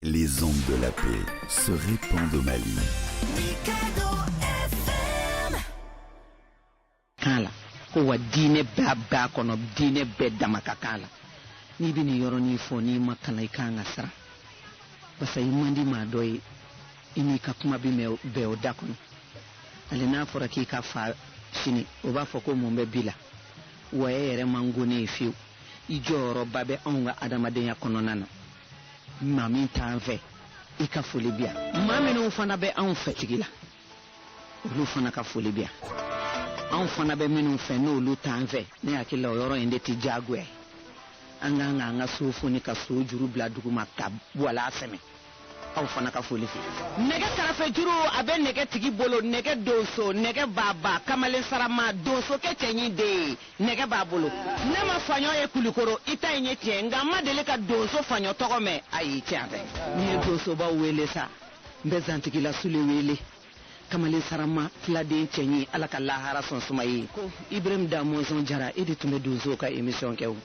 Les ondes de la paix se répandent au Mali. kan la ko wa diinɛ bɛɛ b'a kɔnɔ diinɛ bɛɛ dama ka kan la n'i bɛ nin yɔrɔnin fɔ n'i ma kalan i ka kan ka siran basa i man di maa dɔ ye i n'i ka kuma bɛ mɛn bɛɛ o da kɔnɔ hali n'a fɔra k'i ka fa sini o b'a fɔ ko mun bɛ bi la wa e yɛrɛ mangoni ye fiyewu i jɔyɔrɔba bɛ anw ka adamadenya kɔnɔna na maa min t'an fɛ i ka foli bi yan maa minnu fana bɛ anw fɛ tigi la olu fana ka foli bi yan anw fana bɛ minnu fɛ n'olu t'an fɛ ne hakili la o yɔrɔ in de tɛ diyagoya ye an k'an k'an ka so foni ka so juru bila duguma ka wala sɛmɛ aw fana ka foli fɛ nɛgɛ karafe juru a bɛ nɛgɛ tigi bolo nɛgɛ donso nɛgɛ baba kamalen sarama donsokɛ cɛɲi den nɛgɛ b'a bolo ne ma faɲɔ ye kulikoro i ta in ye tiɲɛ nka n ma deli ka donso faɲɔ tɔgɔ mɛn ayi tiɲɛ tɛ n'i ye donsoba wele sa n bɛ zantigila sule wele kamalen sarama filaden cɛɲi ala ka lahara sɔn suma ye ko ibrahim da mɔnsɔn jara e de tun bɛ donsow ka emisiyɔn kɛ o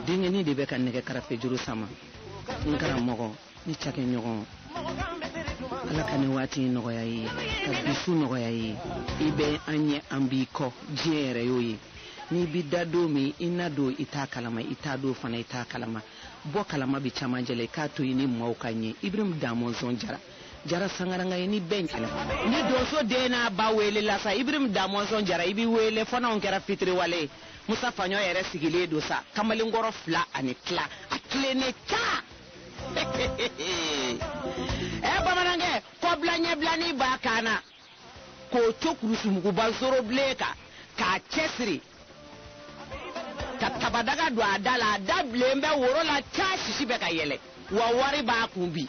denkɛnin de bɛ ka nɛgɛ karafejuru sama n karamɔgɔ ni cakɛɲɔgɔn ala ka nin waati in nɔgɔya i ye ka bi su nɔgɔya i ye i bɛ an ɲɛ an b'i kɔ diɲɛ yɛrɛ y'o ye n'i bi da don min i na don i t'a kalama i taa don fana i t'a kalama bɔ kalama bi caman jɛla i k'a to i ni maaw ka ɲɛ ibrahim da mɔnsɔn jara jara sangaranga ye ni bɛn kɛlɛ ni donso den n'a ba welela sa ibrahim da mɔnsɔn jara i b'i wele fana o kɛra fitiriwale ye musa faɲɔ yɛrɛ sigilen don sa kamalenkɔrɔ fila ani tila a tilennen ca ɛ bamanankɛ kɔbila ɲɛbilani b'a kan na k'o to kurusi muguba zorobilen kan k'a cɛsiri ka tabadaga don a da la a da bilen bɛ woro la ca sisi bɛ ka yɛlɛ wa wari b'a kun bi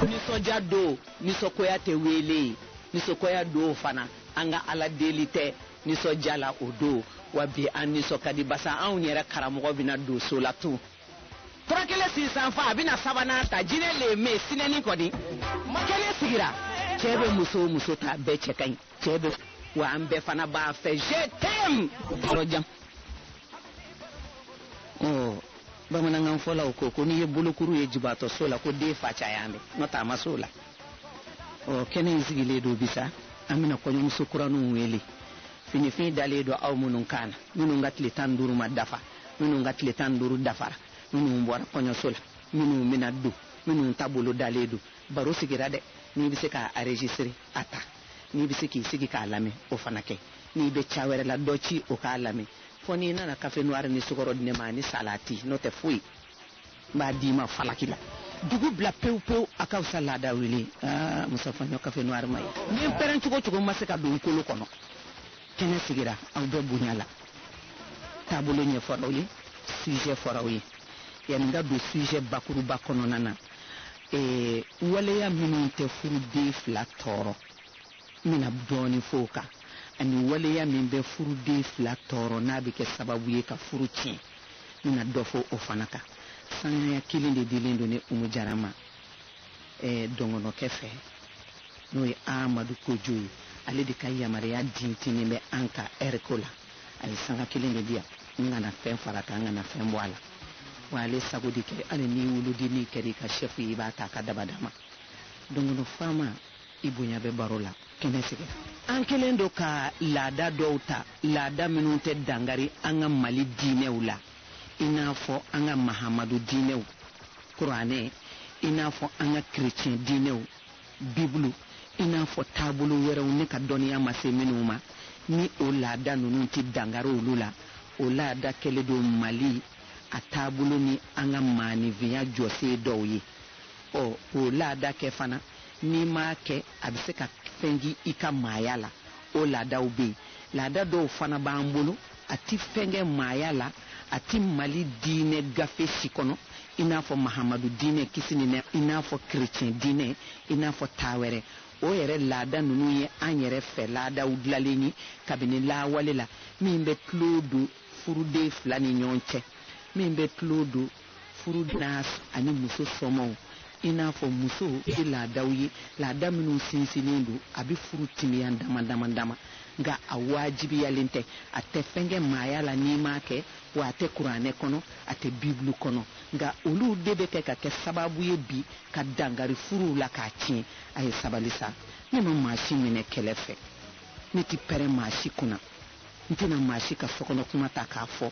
nisɔndiya don nisɔngoya tɛ wele nisɔngoya don fana an ka ala deli tɛ Nisɔndiya la o don, wa bi an nisɔn ka di barisa anw yɛrɛ karamɔgɔ bɛna don so la tun. Tura kelen sinsan fa, a bɛna sabanan ta, jinɛ le me sinɛni kɔni, kɛnɛ sigira. Cɛ bɛ muso o muso ta, bɛɛ cɛ ka ɲi, cɛ bɛ wa an bɛɛ fana b'a fɛ je t'aime yɔrɔ jan. Ɔ bamanankan fɔlaw ko ko n'i ye bolokuru ye jibaatɔ so la ko den fa cayalen, n'o tɛ a ma s'o la. ɔ kɛnɛ in sigilen don bi sa an bɛna kɔɲɔmuso kuraniw wele finifin dalen don aw minnu kan na minnu ka tile tan duuru ma dafa minnu ka tile tan duuru dafara minnu bɔra kɔɲɔso la minnu bɛna don minnu ta bolo dalen don baro sigira dɛ n'i bɛ se k'a enregistre a ta n'i bɛ se k'i sigi k'a lamɛn o fana kɛ n'i bɛ ca wɛrɛ la dɔ ci o k'a lamɛn fɔ n'i nana kafe noir ni sukɔrɔ di ne ma ani salati n'o tɛ foyi n b'a d'i ma falaki la dugu bila pewu pewu a ka fisa laada wuli ye ah, musafaɲɔ café noir ma ye ni n pɛrɛn cogo cogo n ma se ka don n kolo kɔnɔ kɛnɛ sigira aw bɛɛ bonya la taabolo ɲɛfɔra aw ye sujet fɔra aw ye yanni n ka don sujet bakuruba kɔnɔna na ee, waleya minnu tɛ furuden fila tɔɔrɔ n bɛna dɔɔnin fɔ o kan ani waleya min bɛ furuden fila tɔɔrɔ n'a bɛ kɛ sababu ye ka furu tiɲɛ n bɛna dɔ fɔ o fana kan sanaya kelen de dilen don ne umu jara ma ɛɛ dɔngɔnɔkɛ fɛ n'o ye amadu kojo ye ale de ka yamaruya dintinin bɛ an ka ɛriko la a ye sanga kelen de di yan n kana fɛn fara kan n kana fɛn bɔ a la wa ale sago de kɛ hali n'i wolodennin kɛra i ka sɛfu ye i b'a ta a ka dabada ma dɔngɔnɔ faama i bonya bɛ baro la kɛnɛ sigi an kɛlen don ka laada dɔw ta laada minnu tɛ dankari an ka mali diinɛw la i n'a fɔ an ka mahamadu diinɛw kuranɛ i n'a fɔ an ka kerecɛn diinɛw bibulu i n'a fɔ taabolo wɛrɛw ne ka dɔnniya ma se minnu ma ni o laada ninnu tɛ dankari olu la o laada kɛlen don mali a taabolo ni an ka maaninfinya jɔsen dɔw ye ɔ o laada kɛ fana n'i m'a kɛ a bɛ se ka fɛnkɛ i ka maaya la o laadaw bɛ yen laada dɔw fana b'an bolo a ti fɛnkɛ maaya la a ti mali diinɛ gafe si kɔnɔ i n'a fɔ mahamadu diinɛ kisi ni nɛ i n'a fɔ kerecɛn diinɛ i n'a fɔ taa wɛrɛ o yɛrɛ laada ninnu ye an yɛrɛ fɛ laadaw dilalen ye kabini lawale la min bɛ tulon don furuden fila ni ɲɔgɔn cɛ min bɛ tulon don furu n'a ani muso somaaw i n'a fɔ muso ye laadaw ye laada minnu sinsinnen don a bɛ furu timiya dama dama dama nka a waajibiyalen tɛ a tɛ fɛn kɛ maaya la n'i m'a kɛ wa a tɛ kuranɛ kɔnɔ a tɛ bibulu kɔnɔ nka olu de bɛ kɛ ka kɛ sababu ye bi ka dankari furuw la k'a tiɲɛ a ye sabali sa ne ma maa si minɛ kɛlɛ fɛ ne tɛ pɛrɛn maa si kunna n tɛna maa si ka sokɔnɔ kuma ta k'a fɔ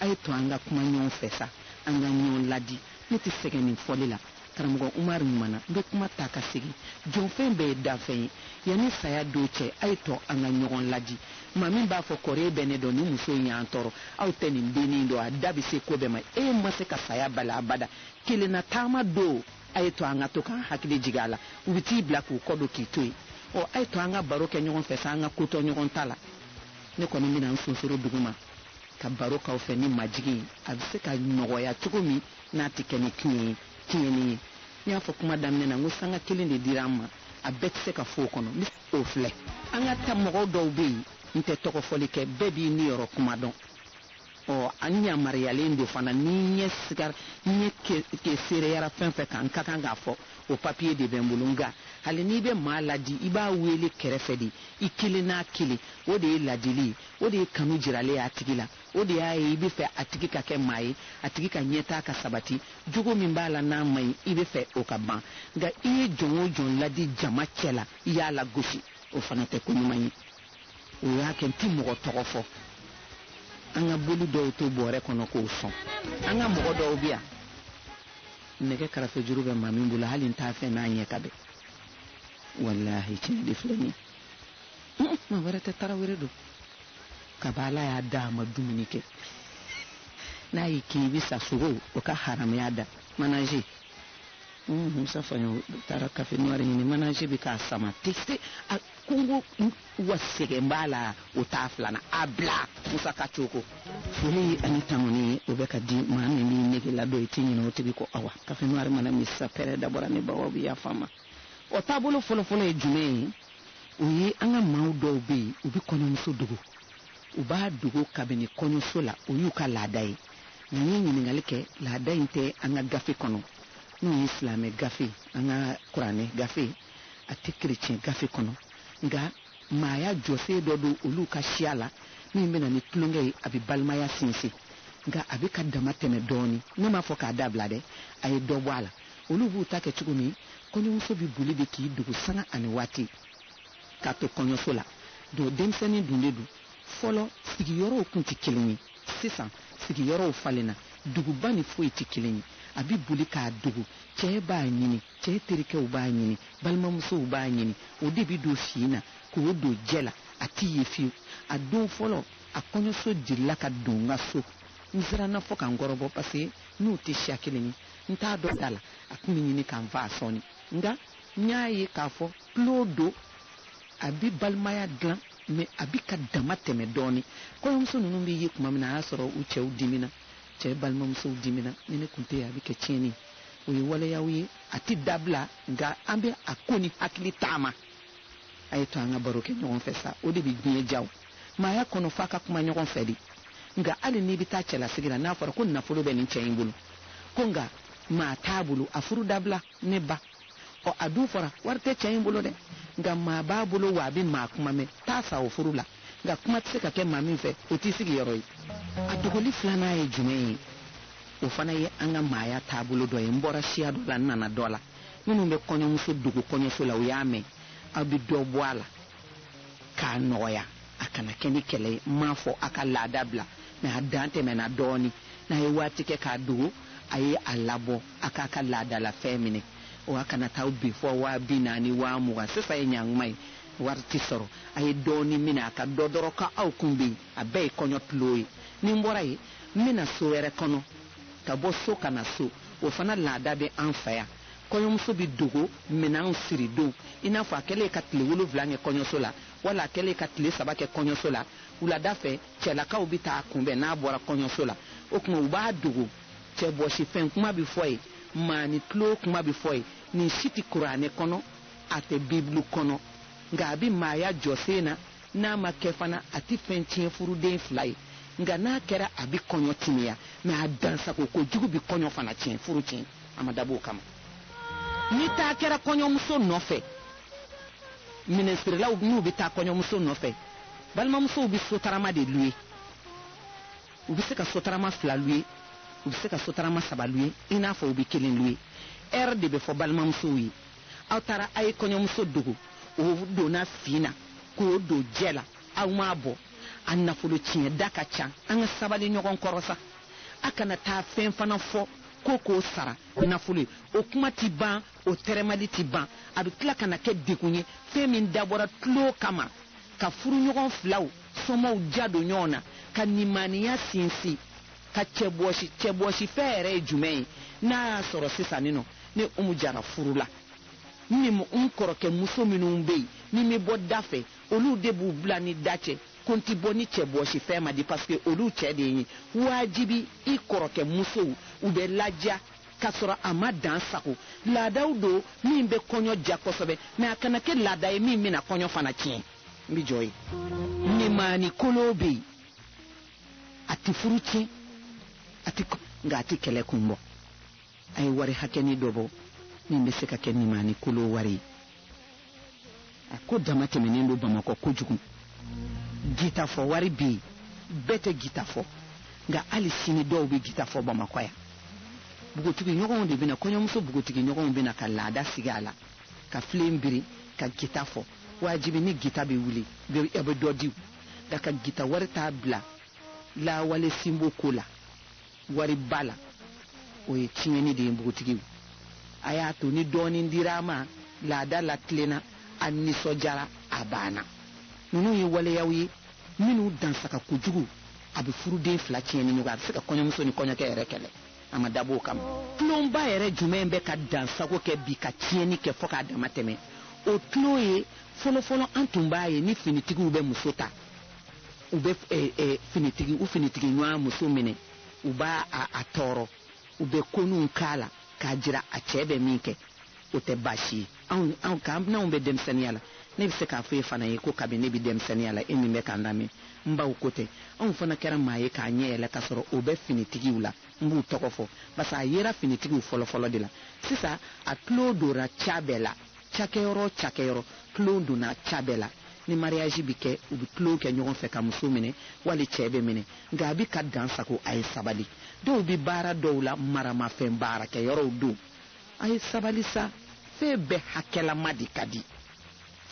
A ye to an ka kuma ɲɔgɔn fɛ sa, an ka ɲɔgɔn ladi. Ne tɛ sɛgɛn nin fɔli la. Karamɔgɔ Umaru ɲumanna. N bɛ kuma ta ka segin. Jɔnfɛn bɛɛ ye danfɛn ye. Yanni saya don cɛ, a ye to an ka ɲɔgɔn ladi. Maa min b'a fɔ kɔri e bɛ ne dɔn, nin muso in y'an tɔɔrɔ. Aw tɛ nin dennin in dɔn, a da bɛ se ko bɛɛ ma. E ma se ka saya bali abada. Kelenna taama don, a ye to an ka to k'an hakili jigin a la. U bɛ t'i bila k'u kɔ don k'i to yen. Ɔ, a ye to an ka baro kɛ ɲɔgɔn fɛ sa, an ka ko to ɲɔgɔn ta la. Ne kɔni bɛna n sonsoro duguma. ka baro k'aw fɛ ni majigin a bɛ se ka nɔgɔya cogo min n'a tɛ kɛ ni tiɲɛ ye tiɲɛni ye n y'a fɔ kuma daminɛ na n ko sanga kelen de dira an ma a bɛɛ tɛ se ka fɔ o kɔnɔ n bɛ o filɛ an ka ta mɔgɔw dɔw bɛ yen n tɛ tɔgɔ fɔli kɛ bɛɛ b'i niyɔrɔ kuma dɔn ɔ an yamaruyalen don fana ni ɲɛ sigar ɲɛ ke seereyara fɛn fɛn kan n ka kan k'a fɔ o papiye de bɛ n bolo nka hali n'i bɛ maa ladi i b'a weele kɛrɛfɛ de i kelen n'a kelen o de ye ladili ye o de ye kanu jiralen ye a tigi la o de y'a ye i bɛ fɛ a tigi ka kɛ maa ye a tigi ka ɲɛtaa ka sabati jogo min b'a la n'a man ɲi i bɛ fɛ o ka ban nka i ye jɔn o jɔn ladi jama cɛ la i y'a lagosi o fana tɛ ko ɲuman ye o y'a kɛ n tɛ mɔgɔ tɔgɔ fɔ an ka boli dɔw to bɔrɛ kɔnɔ k'o sɔn an ka mɔgɔ dɔw bɛ yan nɛgɛ karafe juru bɛ maa min bolo hali n t'a fɛ n'a ɲɛ ka bɛn walahi tiɲɛ de filɛ nin ye maa wɛrɛ tɛ tarawele don kaba ala y'a da a ma dumuni kɛ n'a y'i kin i bɛ sa sogo o ka haramuya da manaje musa faɲɔ taara kafe nɔri ɲini manaje bɛ k'a sama tese a kungo wa sɛgɛn b'a la o t'a filanan a bila musa ka cogo foli ani tanuni o bɛ ka di maa min b'i nege la dɔn i tɛ ɲinɛ o tigi kɔ awa kafe nɔri mana min sa pɛrɛ dabɔra ni bawaw bɛ yafa n ma o taabolo fɔlɔfɔlɔ ye jumɛn ye o ye an ka maaw dɔw bɛ yen u bɛ kɔɲɔmuso dogo u b'a dogo kabini kɔɲɔso la o y'u ka laada ye nka n ye ɲininkali kɛ laada in tɛ an ka gafe kɔnɔ n'o ye silamɛ gafe an ka kuranɛ gafe a tɛ kerecɛn gafe kɔnɔ nka maaya jɔsen dɔ don olu ka siya la min bɛ na ni tulonkɛ ye a bɛ balimaya sinsin nka a bɛ ka dama tɛmɛ dɔɔnin ne m'a fɔ k'a dabila dɛ a ye dɔ bɔ a la olu b'u ta kɛ cogo min kɔɲɔmuso bɛ boli de k'i dogo sanga ani waati k'a to kɔɲɔso la don denmisɛnnin dun de don fɔlɔ sigiyɔrɔw kun tɛ kelen ye sisan sigiyɔrɔw falenna duguba ni foyi tɛ kelen ye a bɛ boli k'a dogo cɛɛ b'a ɲini cɛɛ terikɛw b'a ɲini balimamusow b'a ɲini o de bɛ don fin na k'o don jɛ la a tɛ ye fiyewu a don fɔlɔ a kɔɲɔso girinna ka don n ka so n siranna fɔ ka n kɔrɔbɔ paseke n'u tɛ siya kelen ye n t'a dɔn da la a tun bɛ ɲini ka n faa sɔɔni nka n y'a ye k'a fɔ tulon don a bi balimaya dilan mɛ a bi ka dama tɛmɛ dɔɔni kɔɲɔmuso ninnu bɛ ye tuma min na a y'a sɔrɔ u cɛw dimina cɛ balimamusow dimina ni ne tun tɛ yen a bɛ kɛ tiɲɛni o ye waleyaw ye a tɛ dabila nka an bɛ a ko ni hakili taama a ye to an ka baro kɛ ɲɔgɔn fɛ sa o de bɛ diɲɛ diya maaya kɔnɔ f'a ka kuma ɲɔgɔn fɛ de nka hali n'i bɛ taa cɛlasigi la n'a fɔra ko nafolo bɛ nin cɛ in bolo ko nka maa t'a bolo a furu dabila ne ba ɔ a dun fɔra wari tɛ cɛ in bolo dɛ nka maa b'a bolo wa a bɛ maa kuma mɛn taa sa o furu la nka kuma tɛ se ka kɛ maa min fɛ o t'i sigiyɔrɔ ye a dogoli filanan ye jumɛn ye o fana ye an ka maaya taabolo dɔ ye n bɔra siya dɔ la n nana dɔ la minnu bɛ kɔɲɔmuso dogo kɔɲɔso la u y'a mɛn aw bɛ dɔ bɔ a la k'a nɔgɔya a kana kɛ ni kɛlɛ ye n m'a fɔ a ka laada bila mɛ a dan tɛmɛna dɔɔni n'a ye waati kɛ k'a dogo a ye a labɔ a k'a ka laadalafɛn minɛ wa kana taa bi fɔ waa bi naani waa mugan sisan ye ɲanguma ye wari tɛ sɔrɔ a ye dɔɔni minɛ a k'a dɔn dɔrɔn ka aw kun bɛ yen a bɛɛ ye kɔɲɔ tulon ye ni n bɔra yen n bɛna so wɛrɛ kɔnɔ ka bɔ so ka na so o fana laada bɛ an fɛ yan kɔɲɔmuso bɛ dogo minɛnw siridon i n'a fɔ a kɛlen ka tile wolonwula kɛ kɔɲɔso la wala a kɛlen ka tile saba kɛ kɔɲɔso la wulada fɛ cɛlakaw bɛ taa a kunbɛn n'a bɔra kɔɲɔso la o tuma u b'a dogo cɛbɔsi fɛn kuma bɛ fɔ yen nimaani tulon kuma bɛ fɔ yen nin si tɛ kuranɛ kɔnɔ a tɛ bibulu kɔnɔ nka a bɛ maaya jɔsen na n'a ma kɛ fana a tɛ fɛn tiɲɛ furuden fila ye nka n'a kɛra a bɛ kɔɲɔ timiya mɛ a dansago kojugu bɛ kɔɲɔ fana tiɲɛ furu tiɲɛ a ma dab'o kama ni taa kɛra kɔɲɔmuso nɔfɛ minɛnsirilaw n'u bɛ taa kɔɲɔmuso nɔfɛ balimamusow bɛ sotarama de luye u bɛ se ka sotarama fila luye u bɛ se ka sotarama saba luye i n'a fɔ u bɛ kelen luye ɛri de bɛ fɔ balimamusow ye aw taara a ye kɔɲɔmuso dogo o donna fin na k'o don jɛ la aw m'a bɔ a nafolo tiɲɛ da ka ca an ka sabali ɲɔgɔn kɔrɔ sa a kana taa fɛn fana fɔ ko k'o sara nafolo ye o kuma ti ban o tɛrɛmali ti ban a bɛ tila ka na kɛ degun ye fɛn min dabɔra tulon kama ka furuɲɔgɔn filaw somaaw ja don ɲɔgɔn na ka nimaniya sinsin ka cɛbɔsi cɛbɔsi fɛn yɛrɛ ye jumɛn ye n'a y'a sɔrɔ sisan nin nɔ ne umu jara furula n ni n kɔrɔkɛ muso minnu bɛ yen ni n bɛ bɔ da fɛ olu de b'u bila n ni da cɛ ko n ti bɔ ni cɛbɔsi fɛn ma di paske olu cɛ de ye waajibi i kɔrɔkɛ musow u bɛ ladiya ka sɔrɔ a ma dansago laadaw don min bɛ kɔɲɔ diya kosɛbɛ mɛ a kana kɛ laada ye min bɛna kɔɲɔ fana tiɲɛ n bɛ jɔ yen nimaani kolo bɛ yen a tɛ furu tiɲɛ a tɛ nka a tɛ kɛlɛ kun bɔ a ye wari hakɛni dɔ bɔ min bɛ se ka kɛ nimani kolo wari ye a ko dama tɛmɛnen don bamakɔ kojugu gita fɔ wari bɛ yen bɛɛ tɛ gita fɔ nka hali sini dɔw bɛ gita fɔ bamakɔ yan npogotigiɲɔgɔnw de bɛ na kɔɲɔmuso npogotigiɲɔgɔnw bɛ na ka laada sigi a la ka filen biri ka gita fɔ wajibi ni gita bɛ wuli a bɛ dɔ di nka ka gita wari t'a bila lawale sinbo ko la wari ba la o ye tiɲɛni de ye npogotigiw a y'a to ni dɔɔnin dira a ma laada latilenna a nisɔndiyara a banna ninnu ye waleyaw ye minnu dansago kojugu a bɛ furuden fila tiɲɛ ni ɲɔgɔn a bɛ se ka kɔɲɔmuso ni kɔɲɔkɛ yɛrɛ kɛlɛ a ma dabɔ o kama tulonba yɛrɛ jumɛn bɛ ka dansago kɛ bi ka tiɲɛni kɛ fɔ k'a dama tɛmɛ o tulon ye fɔlɔfɔlɔ an tun b'a ye ni finitigiw bɛ muso ta u bɛ eh, eh, finitigi u finitigi ɲɔgɔn muso minɛ u b'a tɔɔrɔ u bɛ koninw k'a la k'a jira a cɛ bɛ min kɛ o tɛ baasi ye anw anw k'an n'anw bɛ denmisɛnniya la ne bɛ se k'a fɔ e fana ye ko kabini ne bɛ denmisɛnniya la e min bɛ k'an lamɛn n baw ko tɛ anw fana kɛra maa ye k'an ɲɛ yɛlɛ k'a sɔrɔ o bɛ finitigiw la n b'u tɔgɔ fɔ parce que a yera finitigiw fɔlɔfɔlɔ de la sisan a tulon dora ca bɛɛ la cakɛyɔrɔ cakɛyɔrɔ tulon donna ca bɛɛ la ni mariyaji bɛ kɛ u bɛ tulon kɛ ɲɔgɔn fɛ ka muso minɛ wali cɛ bɛ minɛ nka a bɛ ka dan sago a ye sabali dɔw bɛ baara dɔw la maramafɛn baarakɛyɔrɔw don a ye sabali sa fɛn bɛɛ hakɛlama de ka di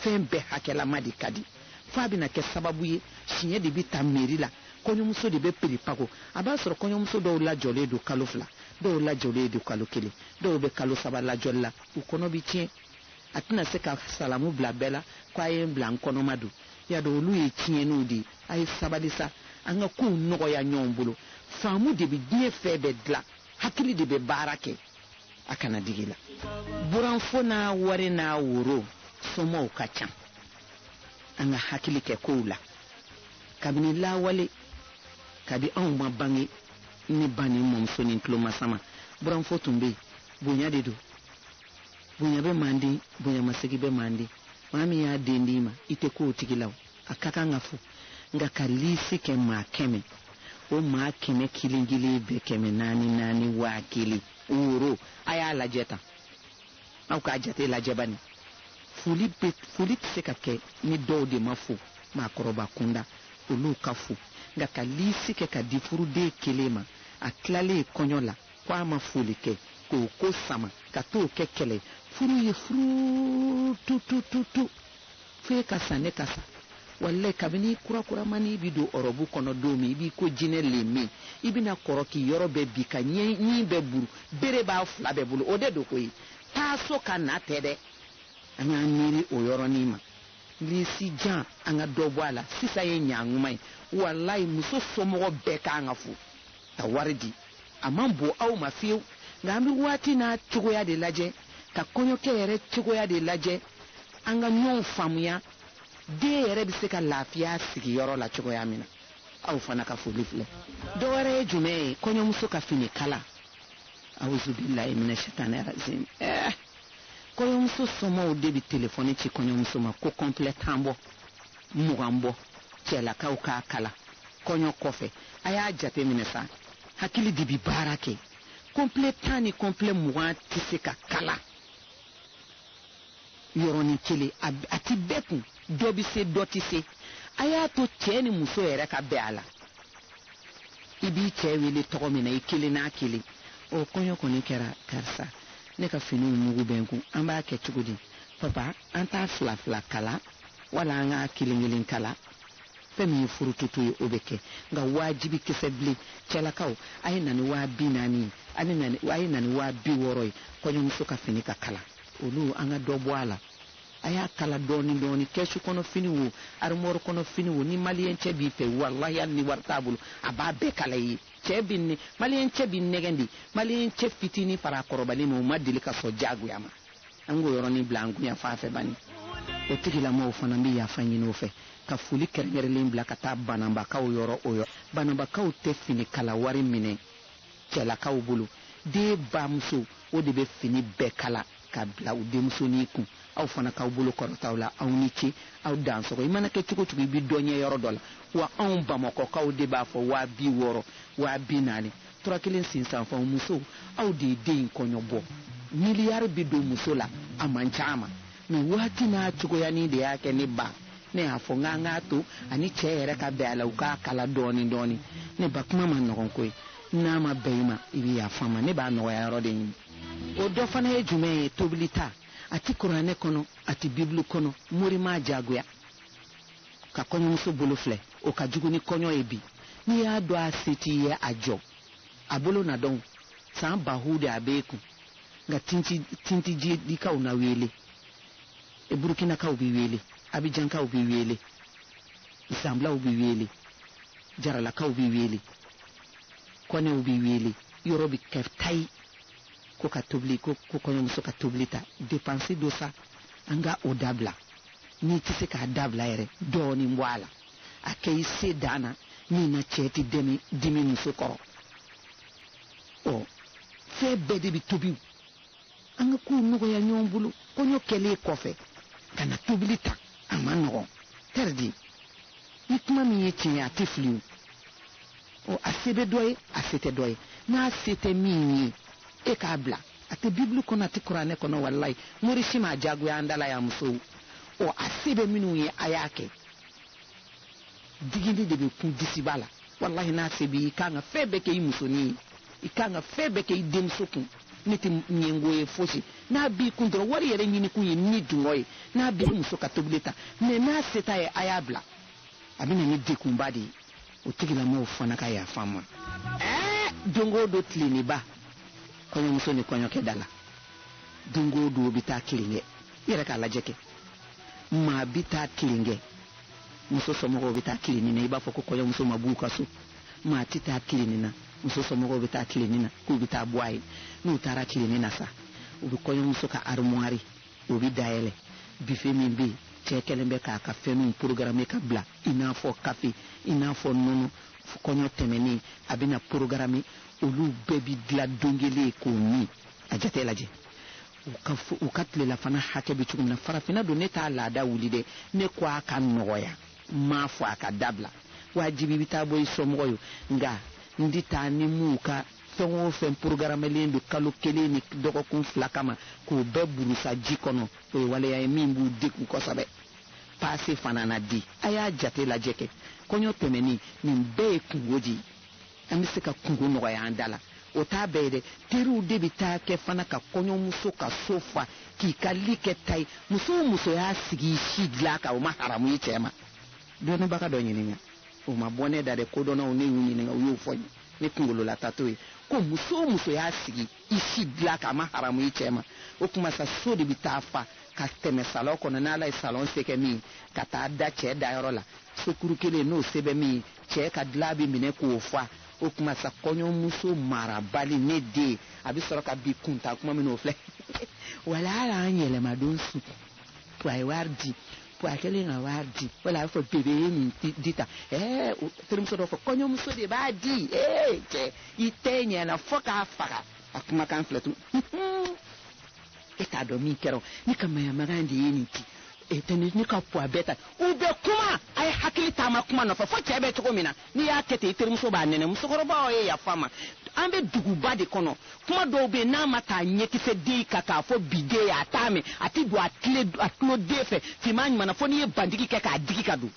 fɛn bɛɛ hakɛlama de ka di f'a bɛna kɛ sababu ye siɲɛ de bɛ ta meri la kɔɲɔmuso de bɛ piripago a b'a sɔrɔ kɔɲɔmuso dɔw lajɔlen don kalo fila dɔw lajɔlen don kalo kelen dɔw bɛ kalo saba lajɔli la u kɔnɔ bi tiɲɛ a tɛna se ka salamu bila bɛɛ la ko a ye n bila n kɔnɔma don y'a dɔn olu ye tiɲɛniw de ye a ye sabali sa an ka kow nɔgɔya ɲɔgɔn bolo faamu de bɛ diɲɛ fɛn bɛɛ dilan hakili de bɛ baara kɛ a kana digi la buranfo n'a wari n'a woro somɔw ka ca an ka hakili kɛ kow la kabini lawale kabi anw ma bange ne ba ni mɔmuso ni tulomasama buranfo tun bɛ yen bonya de don bonya bɛ manden bonyamasegi bɛ manden maa min y'a den d'i ma i tɛ ko o tigi la o a ka kan ka fo nka ka liisi kɛ maa kɛmɛ o maa kɛmɛ kelen kelen bɛɛ kɛmɛ naani naani waa kelen woro a y'a lajɛ tan aw k'a jate lajɛ bani foli bɛ foli tɛ se ka kɛ ni dɔw de ma fo maakɔrɔba kunda olu ka fo nka ka liisi kɛ ka di furuden kelen ma a tilalen kɔɲɔ la ko a ma foli kɛ k'o ko sama ka t'o kɛ kɛlɛ ye furu ye furu tutututu fo e ka sa ne ka sa walayi kabini kurakuramani i bi don ɔrɔbu kɔnɔ don min i b'i ko jinɛ lemme i bɛna kɔrɔ k'i yɔrɔ bɛɛ bin ka ɲin bɛɛ burun bere b'a fila bɛɛ bolo o de don koyi taa so ka na tɛ dɛ an k'an miiri o yɔrɔnin ma lisi jan an ka dɔ bɔ a la sisan ye ɲankuma ye walayi muso somɔgɔ bɛɛ k'an ka fo ka wari di a man bon aw ma fiyewu nka an bɛ waati n'a cogoya de lajɛ ka kɔɲɔkɛ yɛrɛ cogoya de lajɛ an ka ɲɔgɔn faamuya den yɛrɛ bɛ se ka lafiya sigiyɔrɔ la cogoya min na aw fana ka foli filɛ dɔ wɛrɛ ye jumɛn ye kɔɲɔmuso ka fini kala awuzubilayi mina sitani razim ɛɛ eh, kɔɲɔmuso somɔɔw de bɛ telefɔni ci kɔɲɔmuso ma ko kɔnpilɛ tan bɔ mugan bɔ cɛlakaw k'a kala kɔɲɔ kɔfɛ a y'a jate minɛ sa hakili de bi baara kɛ kɔnpilɛ tan ni kɔnpilɛ mugan tɛ se ka kala yɔrɔnin kelen a ti bɛɛ kun dɔ bɛ se dɔ tɛ se a y'a to cɛɛ ni muso yɛrɛ ka bɛn a la i b'i cɛɛ wele tɔgɔ min na i kelen n'a kelen o kɔɲɔ kɔni kɛra karisa ne ka finiw mugu bɛ n kun an b'a kɛ cogo di papa an t'a fila fila kala wala an k'a kelen kelen kala fɛn min ye furututu ye o bɛ kɛ nka waajibi kisɛ bilen cɛlakaw a ye na ni waa bi naani ye a ni na ni a ye na ni waa bi wɔɔrɔ ye kɔɲɔmuso ka fini ka kala olu an ka dɔ bɔ a la a y'a kala dɔɔnin dɔɔnin kɛsu kɔnɔ fini wo arimɔri kɔnɔ fini wo ni maliyɛn cɛ b'i fɛ walahi hali ni wari t'a bolo a b'a bɛɛ kala i ye cɛ bi ne maliyɛn cɛ bi nɛgɛn de maliyɛn cɛ fitinin fara a kɔrɔbalen ma o ma deli ka sɔn diyagoya ma an k'o yɔrɔnin bila an gunya fan fɛ bani o tigilamɔgɔw fana bɛ yafa ɲini o fɛ ka foli kɛrɛnkɛrɛnlen bila ka taa bananbakaw yɔrɔ o yɔrɔ bananbakaw tɛ fini kala wari minɛ cɛlakaw bolo den bamuso o de bɛ fini bɛɛ kala ka bila u denmusonin kun aw fana k'aw bolo kɔrɔta u la aw ni ce aw dansɔgɔ i mana kɛ cogo o cogo i bɛ dɔ ɲɛ yɔrɔ dɔ la wa anw bamakɔkaw de b'a fɔ waa bi wɔɔrɔ waa bi naani tura kelen sisan fana musow aw de ye den in kɔɲɔ bɔ miliyari bi don muso la a man ca a ma mɛ waati n'a cogoyanin de y'a kɛ ne ba ne y'a fɔ n k'an k'a to a ni cɛ yɛrɛ ka bɛn a la u k'a kala dɔɔnin dɔɔnin ne ba kuma man nɔgɔn koyi n'a ma bɛn i ma i bɛ yafa n ma ne b'a nɔgɔya yɔrɔ de ɲini o dɔ fana ye jumɛn ye tobili ta a ti kuranɛ kɔnɔ a ti bibulu kɔnɔ mori m'a jagoya ka kɔɲɔmuso bolo filɛ o ka jugu ni kɔɲɔ ye bi n'i y'a dɔn a se t'i ye a jɔ a bolo na dɔn san bahu de a b'e kun nka tintijidikaw na weele e burukinakaw bɛ weele abijankaw bɛ weele zanblaw bɛ weele jaralakaw bɛ weele kɔnɛw bɛ weele yɔrɔ bɛ kɛ tayi ko ka tobili ko kɔɲɔmuso ka tobili ta depansi don sa an ka o dabila n'i tɛ se k'a dabila yɛrɛ dɔɔnin bɔ a la a kɛ i se dan na min na cɛ tɛ dimi dimi muso kɔrɔ ɔ fɛn bɛɛ de bɛ tobi an ka kow nɔgɔya ɲɔgɔn bolo kɔɲɔ kɛlen kɔfɛ ka na tobili ta a man nɔgɔn tɛridi ni kuma min ye tiɲɛ ye a tɛ fili o ɔ a se bɛ dɔ ye a se tɛ dɔ ye n'a se tɛ min ye e k'a bila a tɛ bibulu kɔnɔ a tɛ kuranɛ kɔnɔ walayi mori si m'a jagoya an dala y'a musow ɔ a se bɛ minnu ye a y'a kɛ digili de bɛ kun disiba la walayi n'a se b'i i kan ka fɛn bɛɛ kɛ i musonin ye i kan ka fɛn bɛɛ kɛ i denmuso kun ne tɛ ɲɛngo ye fosi n'a b'i kun dɔrɔn wari yɛrɛ ɲini kun ye ni dungɔ ye n'a b'i muso ka tobili ta mɛ n'a se t'a ye a y'a bila a bɛ na ni degunba de ye o tigilamɔgɔw fana ka yafa n ma ɛɛ don o don tilenniba kɔɲɔmuso ni kɔɲɔkɛ da la don o don o bɛ taa tilen kɛ i yɛrɛ k'a lajɛ kɛ maa bɛ taa tilen kɛ muso somɔgɔw bɛ taa tilenni na i b'a fɔ ko kɔɲɔmuso ma b'u ka so maa tɛ taa tilenni na muso somɔgɔw bɛ taa tilenni na k'u bɛ taa bɔ a ye n'u taara tilenni na sa u bɛ kɔɲɔmuso ka armoire o bɛ dayɛlɛ bife min bɛ yen cɛ kɛlen bɛ k'a ka fɛnw porogarame ka bila i n'a fɔ kafe i n'a fɔ nɔnɔ kɔɲɔ tɛmɛnen a bɛna porogarame olu bɛɛ bɛ dila don kelen k'o min a jate lajɛ u ka tilelafana hakɛ bɛ cogo min na farafinna don ne t'a laada wuli dɛ ne ko a ka nɔgɔya n m'a fɔ a ka dabila wajibi bɛ taa bɔ i somɔgɔ ye nka n di taa ni m'u ka fɛn o fɛn porogaramelen don kalo kelen ni dɔgɔkun fila kama k'o bɛɛ burusa ji kɔnɔ o ye waleya ye min b'u degun kosɛbɛ paase fana na di a y'a jate lajɛ kɛ kɔɲɔ tɛmɛnen nin bɛɛ ye kunko de ye an bɛ se ka kunko nɔgɔya an da la o t'a bɛɛ ye dɛ teriw de bɛ taa kɛ fana ka kɔɲɔmuso ka so fa k'i ka li kɛ ta ye muso o muso y'a sigi i si dilan kan o ma haramu i cɛ ma dɔnnibaga dɔ ɲininka o ma bɔ ne da dɛ kodɔnnaw ne y'u ɲininka u y'o fɔ n ye ne kungolola ta t'o ye ko muso o muso y'a sigi i si dilan kan a ma haramu i cɛ ma o tuma sa so de bɛ taa fa ka tɛmɛ salɔn kɔnɔ n'ala ye salɔn se kɛ min ka taa da cɛ dayɔrɔ la sokuru kelen n'o se bɛ min cɛ ka dilan bɛ minɛ k'o fa o tuma sa kɔɲɔmuso marabali ne den a bɛ sɔrɔ ka bi kunta kuma min o filɛ wala ala an yɛlɛmadon su a ye wari di ko a kɛlen ka wari di wala a bɛ fɔ bebe ye nin di tan ɛɛ terimuso dɔ fɔ kɔɲɔmuso de b'a di ee cɛ i tɛ ɲɛna fo k'a faga a kumakan filɛ tun e t'a dɔn min kɛra ne ka mayamagan de ye nin di e tɛ ne ka puwa bɛɛ ta u bɛ kuma a ye hakili taama kuma nɔfɛ fo cɛ bɛ cogo min na n'i y'a kɛ ten i terimuso b'a nɛnɛ musokɔrɔbaw ye yafa ma an bɛ duguba de kɔnɔ kuma dɔw bɛ yen n'a ma taa ɲɛkisɛ den kan k'a fɔ bi den ye a t'a mɛn a tɛ don a tulo den fɛ finman ɲuman na fo n'i ye bandigi kɛ k'a digi ka don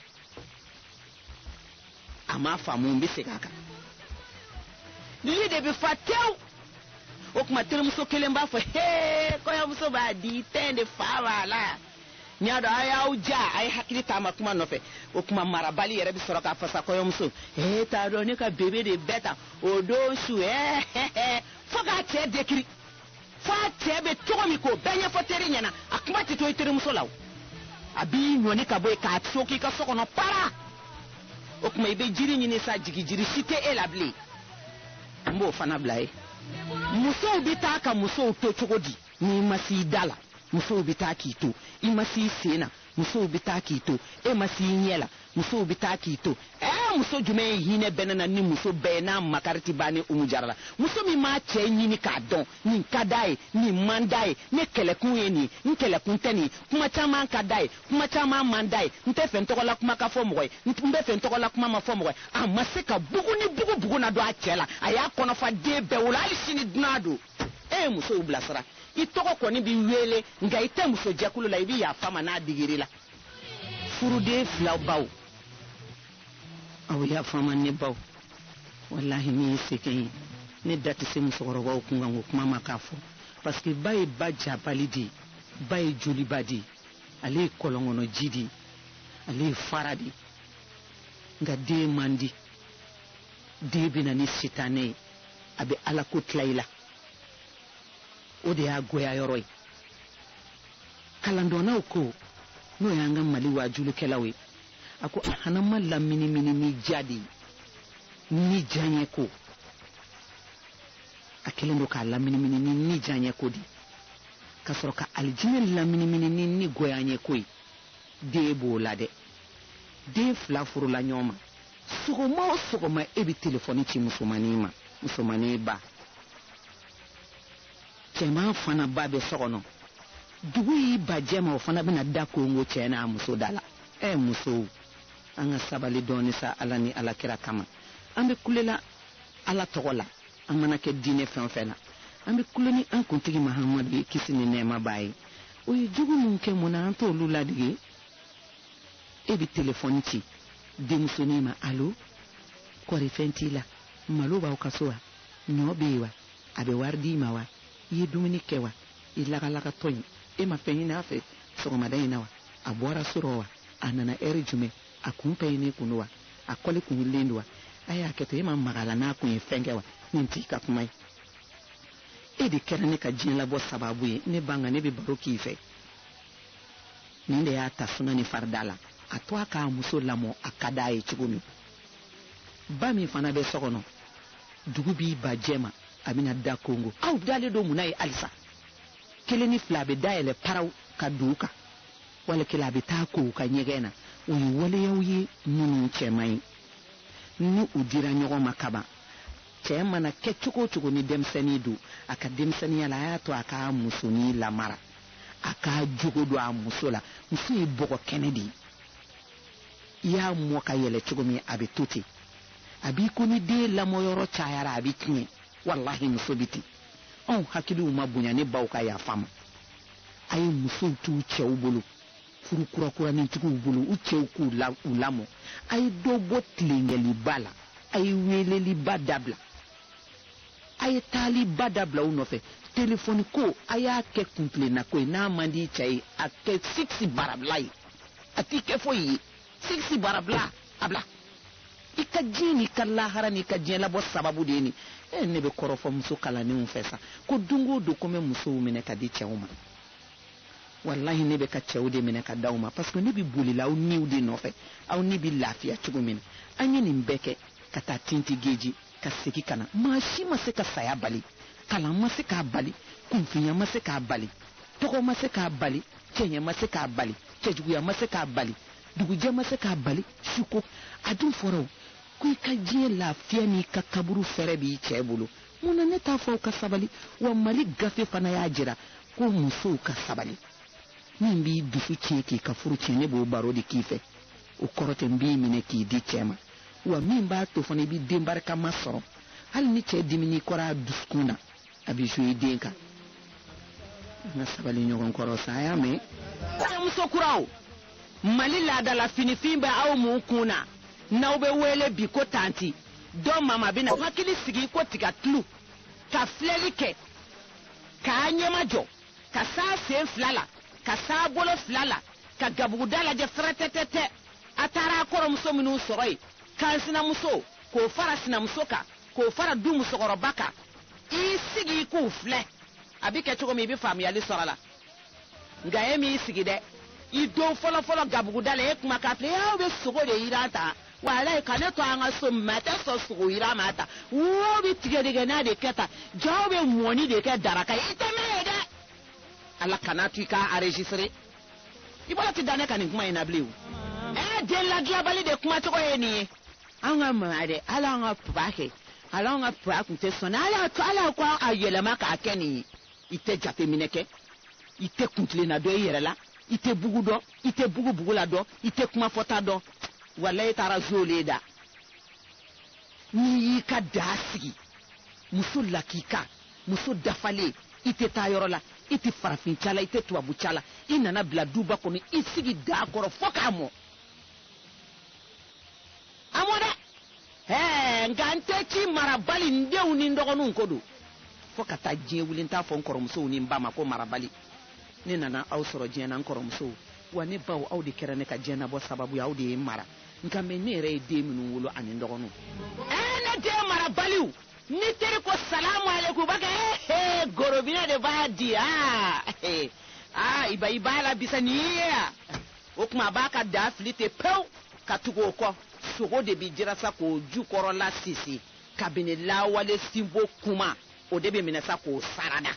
a m'a faamu n bɛ segin a kan lili de bɛ fa tewu o kuma terimuso kelen b'a fɔ hee kɔɲɔmuso b'a di tɛn de fa b'a la. n y'a dɔn a y'aw ja a ye hakili taama kuma nɔfɛ o kuma marabali yɛrɛ bɛ sɔrɔ k'a fɔ sa kɔɲɔmuso e t'a dɔn ne ka bebe de bɛɛ ta o don su ɛɛ fo k'a cɛ dekiri fo a cɛ bɛ cogo min k'o bɛɛ ɲɛfɔ teri ɲɛna a kuma tɛ to i terimuso la o a b'i ɲɔni ka bɔ yen ka sigi i ka so kɔnɔ para o kuma i bɛ jiri ɲini sa jigi jiri si tɛ e la bilen n b'o fana bila ye musow bɛ taa ka musow to cogo di n'i ma s'i da la musow bɛ taa k'i to i ma s'i sen na musow bɛ taa k'i to e ma s'i ɲɛ la musow bɛ taa k'i to ɛɛ muso jumɛn ye hinɛ bɛ ne na ni muso bɛɛ ye n'a makari tɛ ban ni umu jara la muso min m'a cɛ ɲini k'a dɔn nin ka d'a ye nin man d'a ye ne kɛlɛkun ye nin n kɛlɛkun tɛ nin kuma caman ka d'a ye kuma caman man d'a ye n tɛ fɛ n tɔgɔla kuma ka fɔ mɔgɔ ye n bɛ fɛ n tɔgɔla kuma ma fɔ mɔgɔ ye a ma se ka bugu ni bugu bugu na dɔn a cɛ la a y'a kɔnɔfa den bɛɛ wolo hali sini dunan don e ye musow bilasira i tɔgɔ kɔni bɛ weele nka i tɛ muso jɛkulu la i bɛ yafa ma n'a digiri la furuden filaw baw aw yafa ma ne baw walahi ne ye sɛgɛn ye ne da tɛ se musokɔrɔbaw kun kan ko kuma ma k'a fɔ parce que ba ye ba jabali de ye ba ye joliba de ye ale ye kɔlɔnkɔnɔ ji de ye ale ye fara de ye nka den man di den bɛ na ni sitanɛ ye a bɛ ala ko tila i la o de y'a goya yɔrɔ ye kalandɔnnaw ko n'o y'an ka mali waajulikɛlaw ye a ko jahanama laminimini ni diya de ye ni diyaɲɛ ko a kɛlen don k'a laminimini ni ni diyaɲɛ ko de ye ka sɔrɔ ka alijinɛ laminimini ni ni goyaɲɛ ko ye den b'o la dɛ den fila furula ɲɔgɔn ma sɔgɔma o sɔgɔma e bɛ telefɔni ci musomannin ma musomannin ba cɛman fana ba bɛ so kɔnɔ dugu y'i ba jɛ ma o fana bɛna da konkon cɛ n'a muso da la ɛ eh, musow an ka sabali dɔɔni sa ala ni ala kira kama an bɛ kulela ala tɔgɔ la an mana kɛ diinɛ fɛn o fɛn na an bɛ kule ni an kuntigi mahamadu ye kisi ni nɛɛma b'a ye o ye jogo min kɛ mun na an t'olu ladege e bɛ telefɔni ci denmusonin ma alo kɔri fɛn t'i la malo b'aw ka so wa ɲɔ bɛ yen wa a bɛ wari d'i ma wa i ye dumuni kɛ wa i lagalagatɔ in e ma fɛn ɲini a fɛ sɔgɔmada in na wa a bɔra so rɔ wa a nana ɛri jumɛn a kun pɛyinen kun don wa a kɔli kun wililen don wa a y'a kɛ to e ma maga la n'a kun ye fɛn kɛ wa nin t'i ka kuma ye e de kɛra ne ka diɲɛ labɔ sababu ye ne ba nka ne bɛ baro k'i fɛ nin de y'a ta suna ni farida la a to a k'a muso lamɔ a ka d'a ye cogo min ba min fana bɛ so kɔnɔ dugu b'i ba jɛ ma a bɛna da konkon aw dalen don mun na ye halisa kelen ni fila a bɛ da yɛlɛ paraw ka don u kan wala kelen a bɛ taa ko u ka ɲɛgɛn na o ye waleyaw ye minnu cɛ man ɲi ni u dira ɲɔgɔn ma kaban cɛ mana kɛ cogo o cogo ni denmisɛnnin don a ka denmisɛnniya la a y'a to a k'a musonin lamara a k'a jogo don a muso la muso ye bɔgɔ kɛnɛ de ye i y'a mɔ ka yɛlɛ cogo min a bɛ to ten a b'i ko ni den lamɔyɔrɔ cayara a bɛ tiɲɛ walahi muso bɛ ten anw hakiliw ma bonya ne baw ka yafa ma a ye musow t'u cɛw bolo furu kurakuranitigiw bolo u cɛw k'u lamɔ a ye dɔ bɔ tilenkɛliba la a ye weeleliba dabila a ye taaliba dabila u nɔfɛ telefɔni ko a y'a kɛ kuntilenna ko ye n'a man di cɛ ye a kɛ sikisi baara bila ye a t'i kɛ foyi ye sikisi baara bila a bila i ka diɲɛ n'i ka lahara n'i ka diɲɛ labɔ sababu de ye nin e eh, ne bɛ kɔrɔfɔ muso kalannenw fɛ sa ko don o don ko n bɛ musow minɛ ka di cɛw ma walahi ne bɛ ka cɛw de minɛ ka d'aw ma parce que ne bɛ bolila aw niw de nɔfɛ aw ni bɛ lafiya cogo min na an ye nin bɛɛ kɛ ka taa tinti geji ka segi ka na maa si ma se ka saya bali kalan ma se k'a bali kunfinya ma se k'a bali tɔgɔ ma se k'a bali cɛɲɛ ma se k'a bali cɛjuguya ma se k'a bali dugujɛ ma se k'a bali suko a dun fɔra ko i ka diɲɛ lafiya n'i ka kaburu fɛrɛ b'i cɛ bolo mun na ne t'a fɔ aw ka sabali wa mali gafe fana y'a jira ko musow ka sabali min b'i dusu tiɲɛ k'i ka furu tiɲɛ ne b'o baro de k'i fɛ o kɔrɔ tɛ n b'i minɛ k'i di cɛ ma wa min b'a to fana i bɛ den barikama sɔrɔ hali ni cɛ dimin'i kɔrɔ a dusukun na a bɛ zo i den kan an ka sabali ɲɔgɔn kɔrɔ sa a y'a mɛn kɔɲɔmuso kuraw mali laada la finifin bɛ aw mun kun na n'aw bɛ wele bi ko tanti dɔ mama bɛna hakili sigi ko tiga tulu ka filɛli kɛ k'a ɲɛmajɔ ka saa sen fila la ka saa bolo fila la ka gabuguda lajɛ fɛrɛtɛtɛtɛ a taara a kɔrɔmuso minnu sɔrɔ yen kan sinamuso k'o fara sinamuso kan k'o fara du musokɔrɔba kan i sigi k'u filɛ a bɛ kɛ cogo min i bɛ faamuyali sɔrɔ a la nka e m'i sigi dɛ i don fɔlɔfɔlɔ gabuguda la e kuma k'a filɛ aw bɛ sogo de jiran tan walayi ka ne to an ka so ma tɛ sɔn sogo yiran ma tan wo bɛ tigɛdɛgɛna de kɛ tan jaa aw bɛ mɔni de kɛ daraka ye i tɛ mɛn yen dɛ ala kana to i k'a enregistre i bolo tɛ da ne ka nin kuma in na bilen o ɛ den ladilanbali de kuma cogo ye nin ye an ka mama dɛ ala an ka papa kɛ ala an ka papa tun tɛ sɔn na ala to ala ko a yɛlɛma k'a kɛ nin ye i tɛ jateminɛ kɛ i tɛ kuntilenna dɔn i yɛrɛ la i tɛ bugu dɔn i tɛ bugu bugu la dɔn i tɛ kuma fɔta dɔn walayi e taara zole da n'i y'i ka daa sigi muso lakika muso dafalen i tɛ taa yɔrɔ la i tɛ farafin ca la i tɛ tubabu ca la i nana bila duba kɔnɔ i sigi daa kɔrɔ fo k'a mɔ a mɔ dɛ ɛɛ nka n tɛ ci marabali n denw ni n dɔgɔninw ko don fo ka taa diɲɛ wuli n t'a fɔ n kɔrɔmusow ni n ba ma ko marabali ne nana aw sɔrɔ diɲɛ na n kɔrɔmusow wa ne baw aw de kɛra ne ka diɲɛ nabɔ sababu ye aw de ye n mara nka mɛ ne yɛrɛ ye den minnu wolo ani n dɔgɔninw ɛɛ ne den marabaliw ni teri ko salamu aleykum b'a kɛ ee gorobinɛ de b'a di aa aa i ba i b'a la bisa nin ye yan o tuma a b'a ka daa fili ten pewu ka tugu o kɔ sogo de bɛ jiran sa k'o jukɔrɔla sisi kabini lawale sinbo kuma o de bɛ minɛ sa k'o sarada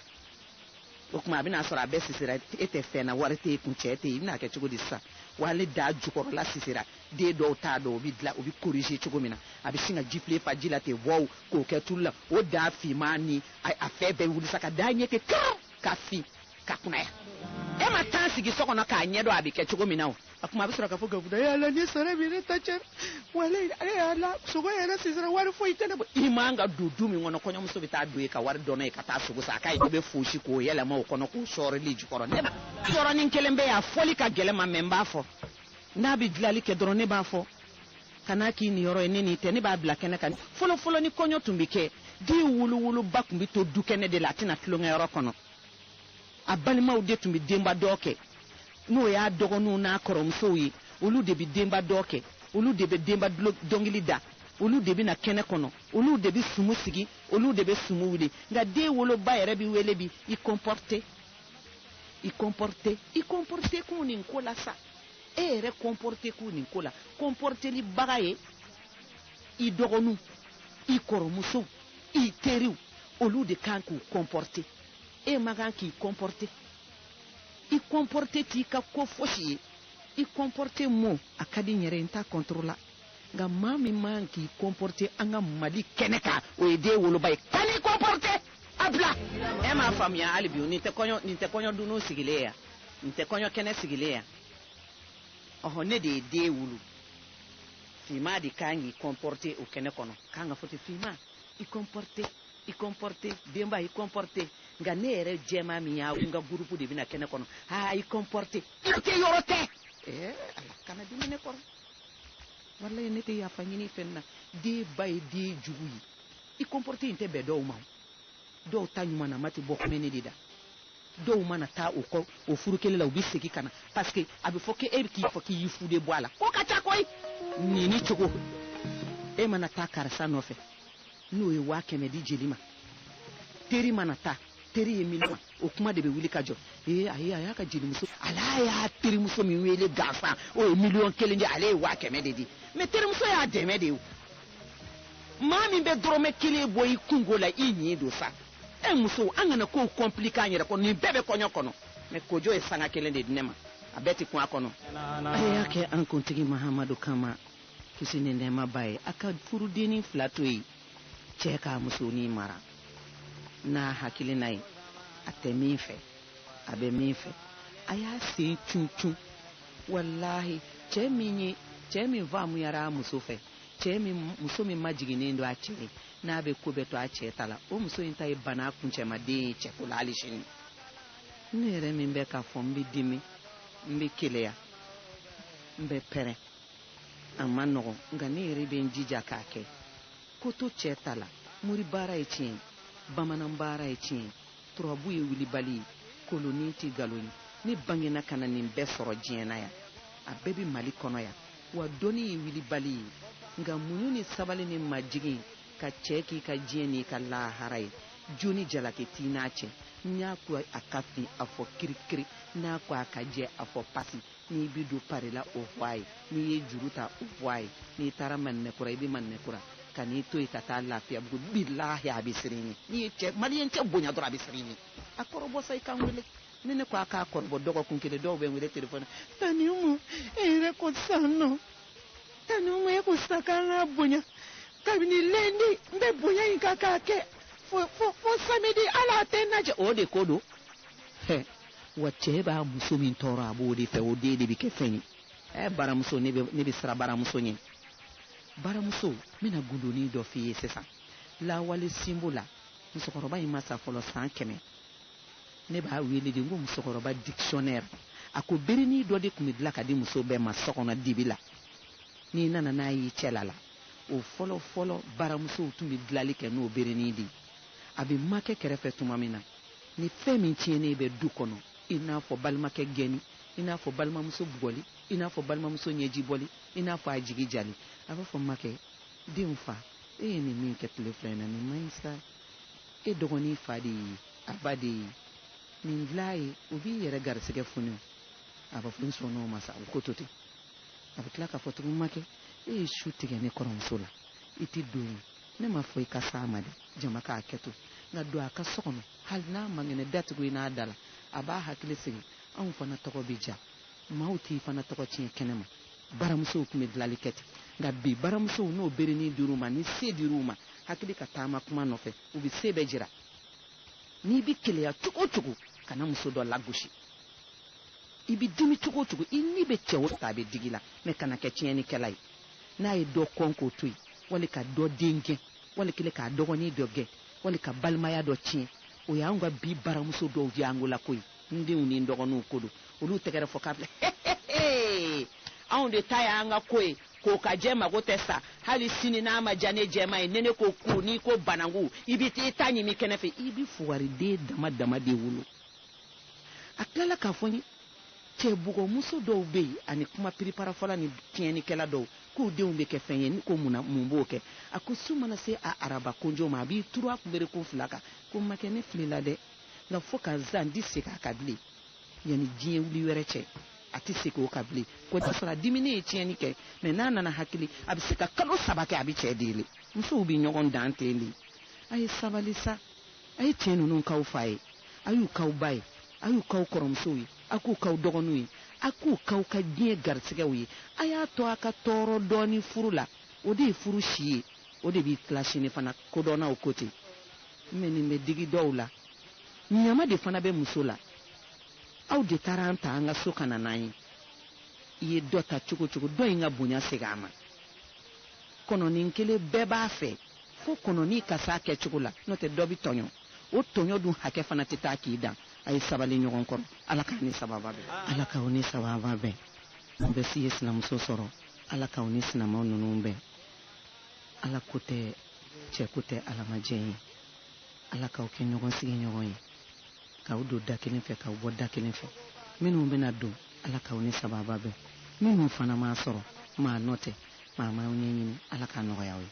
o tuma a bɛna sɔrɔ a bɛɛ sisira e tɛ fɛn na wari tɛ kun cɛ tɛ yen i bɛna kɛ cogo di sisan wa ale daa jukɔrɔla sisira den dɔw t'a dɔn o bɛ dilan o bɛ korije cogo min na a bɛ sin ka jifilen fa ji la ten wɔw k'o kɛ tulu la o daa finman ni a fɛn bɛɛ wuli sa ka da ɲɛ ten kan ka fin ka kunaya e ma tan sigi so kɔnɔ k'a ɲɛdɔn a bɛ kɛ cogo min na o a kuma a bɛ sɔrɔ k'a fɔ gabuguda yala ne sara bi ne ta cɛ walayi ale y'a la sogo yɛrɛ sisira wari foyi tɛ ne bolo i man ka don du min kɔnɔ kɔɲɔmuso bɛ taa don yen ka wari dɔn ye ka taa sogo san a ka ye bɛ fosi k'o yɛlɛma o kɔnɔ k'o sɔrɔli jukɔrɔ ne yɔrɔnin kelen bɛ yan a fɔli ka gɛlɛn n ma mɛ n b'a fɔ n'a bɛ dilanli kɛ dɔrɔn ne b'a fɔ kana k'i nin yɔrɔ ye ne n'i tɛ ne b'a bila kɛnɛ kan fɔlɔfɔlɔ ni kɔɲɔ tun bɛ kɛ den wuluwuluba tun bɛ to du kɛnɛ de la a tɛna tulonkɛyɔrɔ kɔnɔ a balimaw de tun bɛ denba dɔ kɛ n'o y'a dɔgɔninw n'a kɔrɔmusow ye olu de bɛ denba dɔ kɛ olu de bɛ denba dɔnkili da olu de bɛ na kɛnɛ kɔnɔ olu de bɛ sumu sigi olu de bɛ sumu wuli nka den woloba yɛrɛ bɛ wele bi i kɔnpɔrite i kɔnpɔrite i kɔnpɔrite kun nin ko la sa e yɛrɛ kɔnpɔrite kun nin ko la kɔnpɔrtelibaga ye i dɔgɔninw i kɔrɔmusow i teriw olu de kan k'u kɔnpɔrte e man kan k'i kɔnpɔrte i kɔnpɔrte t'i ka ko fosi ye i kɔnpɔrte mo a ka di n yɛrɛ n t'a kɔntoro la nka maa min man k'i kɔnpɔrte an ka mali kɛnɛ kan o ye den woloba ye kan'i kɔnpɔrte a bila e m'a faamuya hali bi nin tɛ kɔɲɔ nin tɛ kɔɲɔ dunun sigilen yan nin tɛ kɔɲɔ kɛnɛ sigilen yan ɔhɔ ne de ye den wolo finman de kan k'i kɔnpɔrte o kɛnɛ kɔnɔ k'an ka fɔ ten finman i comporte i comporte denba i comporte nka ne yɛrɛ jɛman min y'a n ka gurupu de bɛ na kɛnɛ kɔnɔ aa i comporte yɔrɔ tɛ yɔrɔ tɛ ɛɛ ala kana dimi ne kɔrɔ walayi ne tɛ yafa ɲini fɛn na denba ye den jugu ye i comporte in tɛ bɛn dɔw ma dɔw ta ɲumanama tɛ bɔ kumɛnɛ de da dɔw mana taa o kɔ o furu kelen la u bɛ segin ka na parce que a bɛ fɔ k'e bɛ k'i fɔ k'i y'i fude bɔ a la ko ka ca koyi nin ni cogo e mana taa karisa nɔfɛ n'o ye waa kɛmɛ di jeli ma teri mana taa teri ye miliyɔn o kuma de bɛ wuli ka jɔ ee ayi a y'a ka jelimuso ala y'a terimuso min wele gansan o ye miliyɔn kelen di ale ye waa kɛmɛ de di mɛ terimuso y'a dɛmɛ de ye maa min bɛ dɔrɔmɛ kelen bɔ i kunko la i ɲin don sa e musow an kana kow kɔnplike an yɛrɛ kɔnɔ nin bɛɛ bɛ kɔɲɔ kɔnɔ mɛ kojo ye sanga kelen de di ne ma a bɛɛ tɛ kun a kɔnɔ a y'a kɛ an kuntigi mahamadu kama kisi ni nɛɛma b'a ye a ka furudennin fila to yen cɛɛ k'a musonin mara n'a hakilina ye a tɛ min fɛ a bɛ min fɛ a y'a sen cun cun walahi cɛɛ min ye cɛɛ min faamuyara a muso fɛ cɛɛ min muso min majiginnen don a cɛ ye n'a bɛ ko bɛɛ to a cɛɛ ta la o muso in ta ye bana kuncɛmaden ye cɛko la hali sini ne yɛrɛ min bɛ k'a fɔ n bɛ dimi n bɛ keleya n bɛ pɛrɛn a man nɔgɔn nka ne yɛrɛ bɛ n jija k'a kɛ ko to cɛɛ ta la mori baara ye tiɲɛ ye bamanan baara ye tiɲɛ ye turabu ye wulibali ye kolonin tɛ nkalon ye ne bangena ka na nin bɛɛ sɔrɔ diɲɛ na yan a bɛɛ bɛ mali kɔnɔ yan wa dɔnni ye wilibali ye nka muɲu ni sabali ni majigin ka cɛ k'i ka diɲɛ n'i ka lahara ye jo ni jalaki t'i n'a cɛ n'a ko a ka fin a fɔ kirikiri n'a ko a ka jɛ a fɔ pasi n'i bɛ don pari la o fɔ a ye n'i ye juru ta o fɔ a ye n'i taara maninɛkura i bɛ maninɛkura kan'i to yen ka taa lafiyabugu bilahi a bɛ siran i ɲɛ n'i ye cɛ maliyɛn cɛ bonya dɔrɔn a bɛ siran i ɲɛ a kɔrɔbɔ sa i ka n wele Ni ne ko a k'a kɔrɔbɔ dɔgɔkun kelen dɔw bɛ n wele telefɔni na tanti Umu e yɛrɛ ko sisan nɔ tanti Umu e ko sisan k'an k'a bonya kabini lundi n bɛ bonya in kan k'a kɛ fo fo fo samedi hali a tɛ n lajɛ o de ko don hɛ wa cɛ b'a muso min tɔɔrɔ a b'o de fɛ o den de bɛ kɛ fɛn ye ɛ baramuso ne bɛ ne bɛ siran baramuso ɲɛ baramuso n bɛna gundonin dɔ f'i ye sisan lawale sinbo la musokɔrɔba in ma sa fɔlɔ san kɛmɛ Ne b'a wele de ko musokɔrɔba dictionnaire a ko berenin dɔ de tun bɛ dilan ka di muso bɛɛ ma so kɔnɔ dibi la n'i nana n'a y'i cɛla la o fɔlɔ-fɔlɔ baramusow tun bɛ dilali kɛ n'o berenin de a bɛ makɛ kɛrɛfɛ tuma min na ni fɛn min tiɲɛnen bɛ du kɔnɔ i n'a fɔ balimakɛ gɛnni i n'a fɔ balimamuso bugɔli i n'a fɔ balimamuso ɲɛji bɔli i n'a fɔ a jigi jali a b'a fɔ makɛ denw fa e ye nin min kɛ tile fila in na nin man ɲi sa E dɔgɔnin fa de ye a ba de ye nin dilan a ye o b'i yɛrɛ garisɛgɛ foni a b'a fɔ n sɔnn'o ma sa o ko to ten a bɛ tila k'a fɔ tugun makɛ e ye su tigɛ ne kɔrɔmuso la i tɛ don yen ne m'a fɔ i ka s'a ma dɛ jama k'a kɛ to nka don a ka so kɔnɔ hali n'a man kɛnɛ da tugu i n'a da la a b'a hakili sigi anw fana tɔgɔ bɛ diya maaw t'i fana tɔgɔ tiɲɛ kɛnɛ ma baramusow tun bɛ dilali kɛ ten nka bi baramusow n'o berenin dir'u ma ni se dir'u ma hakili ka taama kuma nɔfɛ u bɛ se bɛɛ jira n'i bɛ keleya cogo o cogo kana muso dɔ lagosi i bɛ dimi cogo o cogo i ni bɛ cɛ o ta a bɛ digi i la mɛ kana kɛ tiɲɛnikɛla ye n'a ye dɔ kɔn k'o to yen wali ka dɔ den gɛn wali kelen k'a dɔgɔnin dɔ gɛn wali ka balimaya dɔ tiɲɛ o y'anw ka bi baramuso dɔw ye an bolo koyi n denw ni n dɔgɔninw ko don olu tɛgɛrɛ fɔ k'a bila anw de ta y'an ka ko ye k'o ka jɛ mago tɛ sa hali sini n'a ma diya ne jɛma ye ni ne ko ku n'i ko banangu i bɛ taa i ta ɲimi kɛnɛ fɛ i bɛ fugariden dama dama de wolo a tilala k'a fɔ n ye cɛbugɔmuso dɔw bɛ yen ani kuma piriparafɔla ni tiɲɛnikɛla dɔw k'u denw bɛ kɛ fɛn ye ni ko mun na mun b'o kɛ a ko su mana se a araba konjo ma a b'i turu a kunberekun fila kan ko makɛ ne filila dɛ nka fo ka zan di segin a kan bilen yanni diɲɛ wuli wɛrɛ cɛ a tɛ segin o kan bilen k'o t'a sɔrɔ a diminen ye tiɲɛni kɛ mɛ n'a nana hakili a bɛ se ka kalo saba kɛ a bɛ cɛ deli musow bɛ ɲɔgɔn dan ten de a ye sabali sa a ye cɛ ninnu k'aw fa ye a y'u k'aw ba ye a y'u k'aw kɔrɔmusow ye a k'u k'aw dɔgɔninw ye a k'u k'aw ka diɲɛ garisigɛw ye a y'a to a ka tɔɔrɔ dɔɔni furu la o de ye furu si ye o de b'i tila sini fana kodɔnnaw ko ten Mɛ nin bɛ digi dɔw la, ɲama de fana bɛ muso la. Aw de taara an ta an ka so ka na n'an ye. I ye dɔ ta cogo o cogo, dɔ in ka bonya segin a ma. Kɔnɔnin kelen bɛɛ b'a fɛ fo kɔnɔnin ka s'a kɛcogo la, n'o tɛ dɔ bɛ tɔɲɔ. O tɔɲɔ dun hakɛ fana tɛ taa k'i dan. A ye sabali ɲɔgɔn kɔrɔ. Ala k'an ni sababa bɛn. Ala k'aw ni sababa bɛn. Aw bɛ si ye sinamuso sɔrɔ. Ala k'aw ni sinamaw ninnu bɛn. Ala ko tɛ. cɛ ko tɛ alamajɛ ye ala k'aw kɛ ɲɔgɔn sigiɲɔgɔn ye k'aw don da kelen fɛ k'aw bɔ da kelen fɛ minnu bɛna don ala k'aw ni sababa bɛn minnu fana m'a sɔrɔ maa nɔ tɛ maa m'aw ɲɛɲini ala k'a nɔgɔya aw ye